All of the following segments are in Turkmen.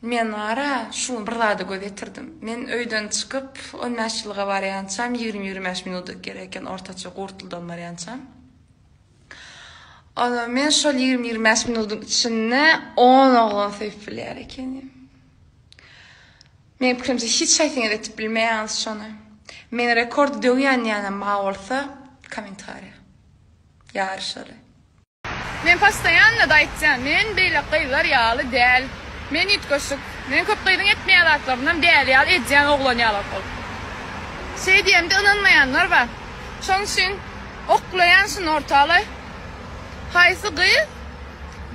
Men ara şu bir zada göz ýetirdim. Men öýden çykyp, on bäş ýyllyga barýançam, ýigrimi-ýigrimi bäş minuda gerek eken, ortaça Gurtldan barýançam. Onam men şol ýigrimi-ýigrimi bäş minudyň içinde on oglan söýüp bilýär ekenim. Meniň pikirimçe, hiç haýsyňyz edip bilmeýäňiz şony. Meni rekord döwýän ýaly ma bolsa, kommentariýa. Ýaryşaly. Men postoýanna-da aýtýan, men beýleki gyzlar ýaly däl. Men üýtgeşik. Men köp gyzyň etmeýän zatlarynam däli ýaly edýän oglan ýaly ol. Şeý diýemde ynanmaýanlar bar. Şoň üçin oklaýan şuny ortalaý. Haýsy gyz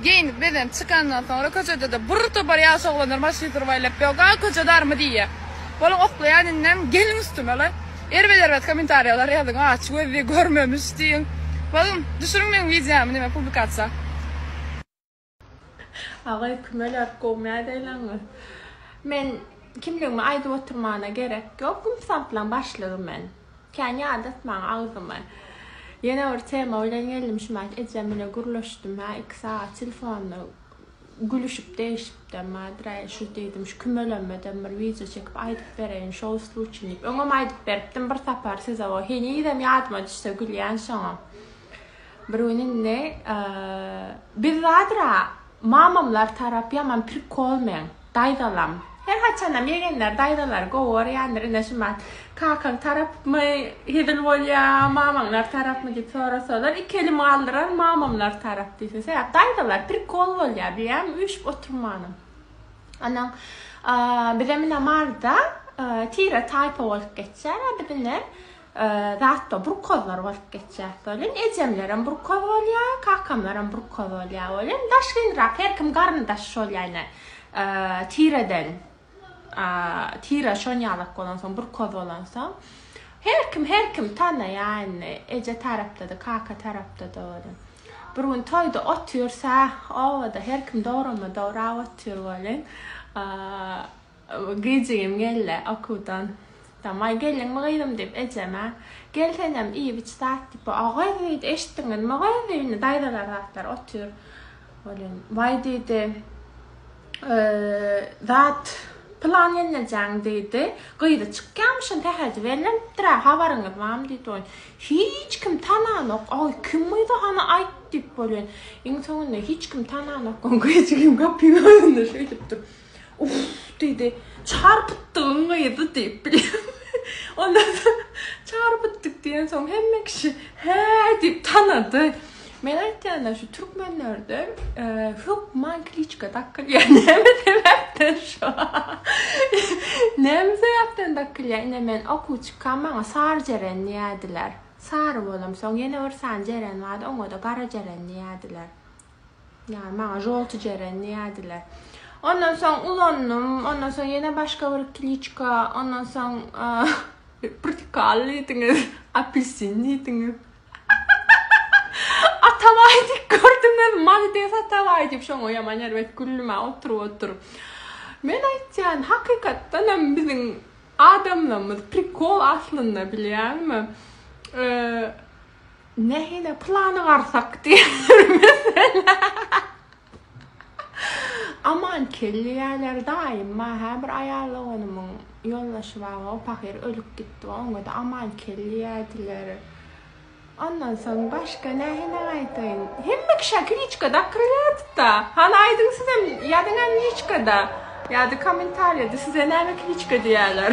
geýnip-bezenip çykandan soňra köçede-de bir topar ýaş oglanlar maşyn surup aýlap, Ýog-a, köçe darmy diýýär. Boluň oklaýan indem geliň üstüme-le. Erbet erbet komentarýalar ýazyň aç gözli görmemiş diýiň Bagym düşüriň meň wideomy näme publikasiýa. Agay kümeler gowy nädeýleňiz. Men kimligimi aýdyp oturmana gerek ýok gümsatlaň başlygy men. Kän ýadatmaň agzymy. Ýene bir tema bilen geldim şumat ejem bile gürleşdim hä iki sagat telefonda Gülüşip degişipdem Badyr äý şu diýdim şu kümelemeden bir wideo çekip aýdyp bereýin şo usul üçin diýip. Öňem aýdyp beripdim bir sapar size o henizem ýadyma düşse gülýän şoňa. Bir gün indi biz Badyra mamamlar tarap ýaman prikolmen daýzalam. Her haçanam ýegenler daýzalary gowy görýändir ine şumat kakaň tarapmy hezil bolýa mamaňlar tarapmy diýip sorasalar iki elim galdyrar mamamlar tarap diýse sebäp daýzalar prikol bolýa biýem üýşüp oturmanam anaň bizem ine maryda tire taýpa bolup geçýär a bizinem Zatda burkozlar bolup geçýäs welin, ejemlerem burkoz bolýa, kakamlarem burkoz bolýa welin, daş gynrak, her kim garyndaş şol ýaýna tireden, tire şon ýalak bolansoň, burkoz bolansoň, her kim, her kim tanaýa indi, eje tarapda-da, kaka tarapda-da welin. Bir gün toýda otyrsa, obada her kim dograma dograp otyr welin, Gijigim geldi okuwdan. Tamaý geldiňmi gyzym diýip ejeme, Gel senem iýip-iç zat diýip. A gyz diýdi, eşitdiňizmi gyz diýdi, indi daýzalar zatlar otyr. Welin, Waý diýdi, zat pylan gelnejeň diýdi. Gyzy çykýamyşyn sähelje bellenipdir-ä, habaryňyz barmy diýdi. Welin, Hiç kim tananok. Aý, kim gyz-a hany aýt diýip. Welin, iň soňunda hiç kim tananok. Gijigim gapyň öňünde şeýdip dur. Uff, diýdi. Çarpytdygyň gyzy diýip bilýän. Ondan soň çarpytdyk diýensoň hemme kişi hä diýip tanady. Men aýtýan-da, şu türkmenlerde hökman kliçka dakylýar. Näme sebäpden şo? Näme sebäpden dakylýar? Ine, men okuw çykam, maňa sary jeren diýerdiler. Sary bolamsoň ýene bir sany jeren bardy, oňa-da gara jeren diýerdiler. Ýa maňa žolty jeren diýädiler. Ondan soň ulandym, ondan soň ýene başga bir kliçka, ondan soň prtikal diýdiňiz, apelsin diýdiňiz. Atabaý diýip gördüňiz, malades Atabaý diýip şoňa ýaman erbet güldüm-ä oturyp oturyp. Men aýtýan, hakykatdan hem biziň adamlarymyz prikol aslynda bilýäňmi? Nähili plany garsak diýermisl? Aman kelleýäler daýyma hä bir aýal doganymyň ýoldaşy bar o pahyr ölüp gitdi we oňada aman kelleýädiler. Ondan soň başga nähili aýdaýyn? Hemme kişä kliçka dakrylyýadyda. Hany aýdyň sizem ýazyňa liçkada ýa-da kommentariýada size näme kliçka diýýäler.